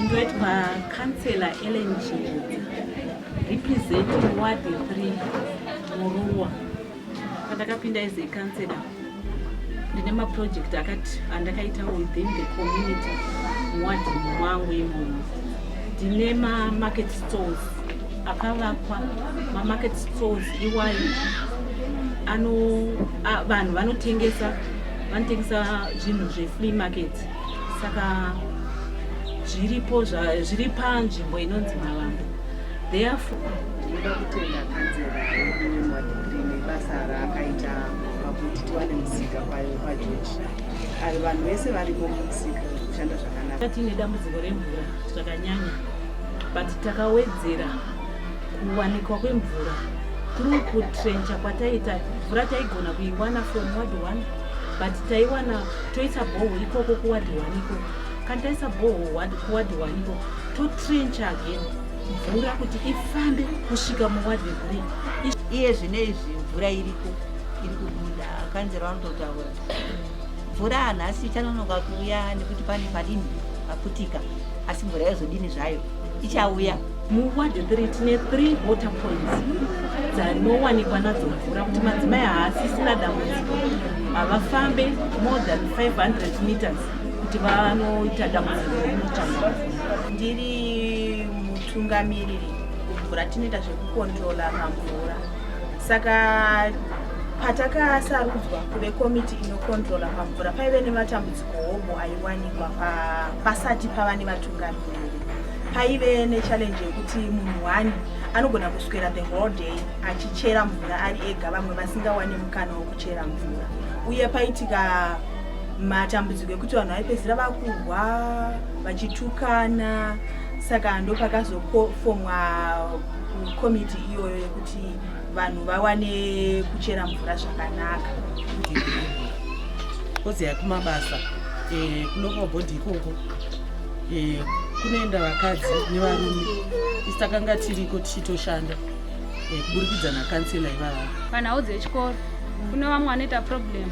ndoitwa councilor ellen chidza representing ward 3 muruwa pandakapinda as a councilor ndine maproject akati andakaita within the community muwadi mwangu imomo ndine mamarket stores akavakwa mamarket stores iwayo ano vanhu vanotengesa vanotengesa zvinhu zvefree market saka zviripo zviri panzvimbo inonzi mavambo therefore ndoda kutenda kanzera yedu yemwadhigiri nebasa raakaita kuti tiwane musika kwayo pajoji ari vanhu vese varimo mumusika kushanda zvakanaka tiine dambudziko remvura zvakanyanya but takawedzera kuwanikwa kwemvura through kutrencha kwataita mvura taigona kuiwana from ward one but taiwana toisa bhoho ikoko kuward one ikoko kana taisa bhoho kuward one ikoko totrencha again mvura kuti ifambe kusvika muwadhi guri iye zvine izvi mvura iriko iri kubuda kanzero vanototaura mvura nhasi ichanonoka kuuya nekuti pane padini paputika asi mvura yozodini zvayo ichauya muwadhi 3 tine 3 water points dzanowanikwa nadzo mvura kuti madzimai haasisina dambudziko havafambe more than 500 meters kuti vanoita dambudziko rinotaura ndiri mutungamiriri kumvura tinoita zvekukontrola pamvura saka patakasarudzwa kuve komiti inokontrola pamvura paive nematambudziko hobho aiwanikwa pasati pava nevatungamiriri paive nechallenje yekuti munhu wani anogona kuswera the whole day achichera mvura ari ega vamwe vasingawani mukana wekuchera mvura uye paitika matambudziko ekuti vanhu vaipedzisira vakurwa vachitukana saka ndopakazofomwa komiti iyoyo yekuti vanhu vawane kuchera mvura zvakanaka kozi yakumabasa eh, kunopa bhodhi ikoko eh, kunoenda vakadzi nevarume isi takanga tiriko tichitoshanda eh, kuburikidza nakansela ivava panhau dzechikoro kune vamwe vanoita problemu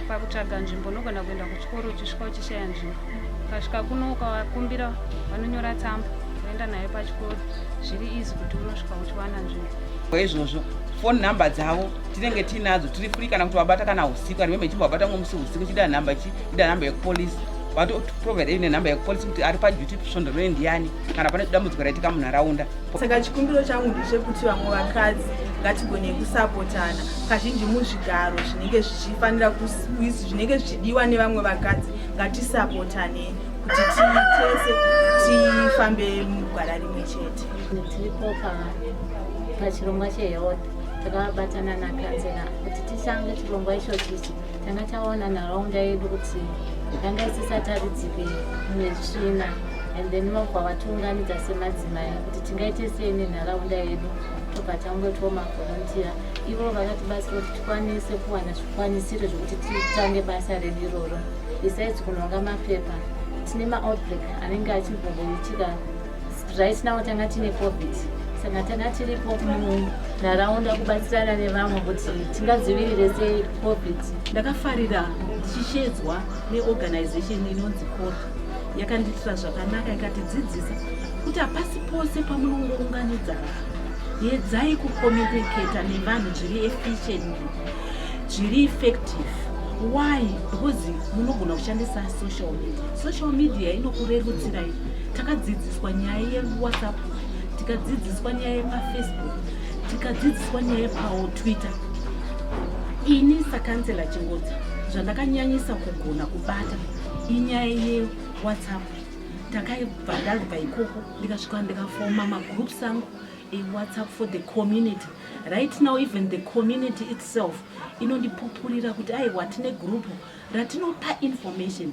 pakutsvaga nzvimbo unogona kuenda kuchikoro uchisvika uchishaya nzvimbo ukasvika kuno ukakumbira vanonyora tsamba uenda nayo pachikoro zviri izi kuti unosvika uchiwana nzvimbo izvozvo foni nhamba dzavo tinenge tiinadzo tiri free kana kuti wabata kana usiku ari meme chimbo wabata ngomusi usiku chida nhamba chi ida nhamba yekupolisi vatoprovide nenhamba yekupolisi kuti ari paduty svondo rine ndiyani kana pane dambudziko raitika munharaunda saka chikumbiro changu ndechekuti vamwe vakadzi ngatigone kusapotana kazhinji muzvigaro zvinenge zvichifanira zvinenge zvichidiwa nevamwe vakadzi ngatisapotane kuti titese tifambe mugwara rimwe chete tiripo pachirongwa chehealth takabatana nakanzera kuti tisange chirongwa ichochichi tanga taona nharaunda yedu kuti yanga isisataridzike nezvina and then mabva vatiunganidza semadzimai kuti tingaite sei nenharaunda yedu tobva tangoitwa mavholontiya ivo vakatibatsira kuti tikwanise kuwana zvikwanisiro zvekuti titange basa redu iroro besides kunonga mapepa tine maoutbreak anenge achimbongoitika Right now tanga tine covid saka tanga tiripo munharaunda kubatsirana nevamwe kuti tingadzivirire sei covid. Ndakafarira ndichishedzwa neorganization inonzi cor yakandiitira zvakanaka ikatidzidzisa kuti hapasi pose pamunongounganidza vanhu yedzai kucommunicata nevanhu zviri efficiently zviri effective why because munogona kushandisa social media social media inokurerutsirai takadzidziswa nyaya yewhatsapp tikadzidziswa nyaya yepafacebook tikadzidziswa nyaya yepawo twitter ini sakansela chingodzi zvandakanyanyisa kugona kubata inyaya yewhatsapp ndakaibva ndabva ikoko ndikasvika ndikafoma magroups angu ewhatsapp for the community right now even the community itself inondipupurira kuti aiwa tine group ratinopa information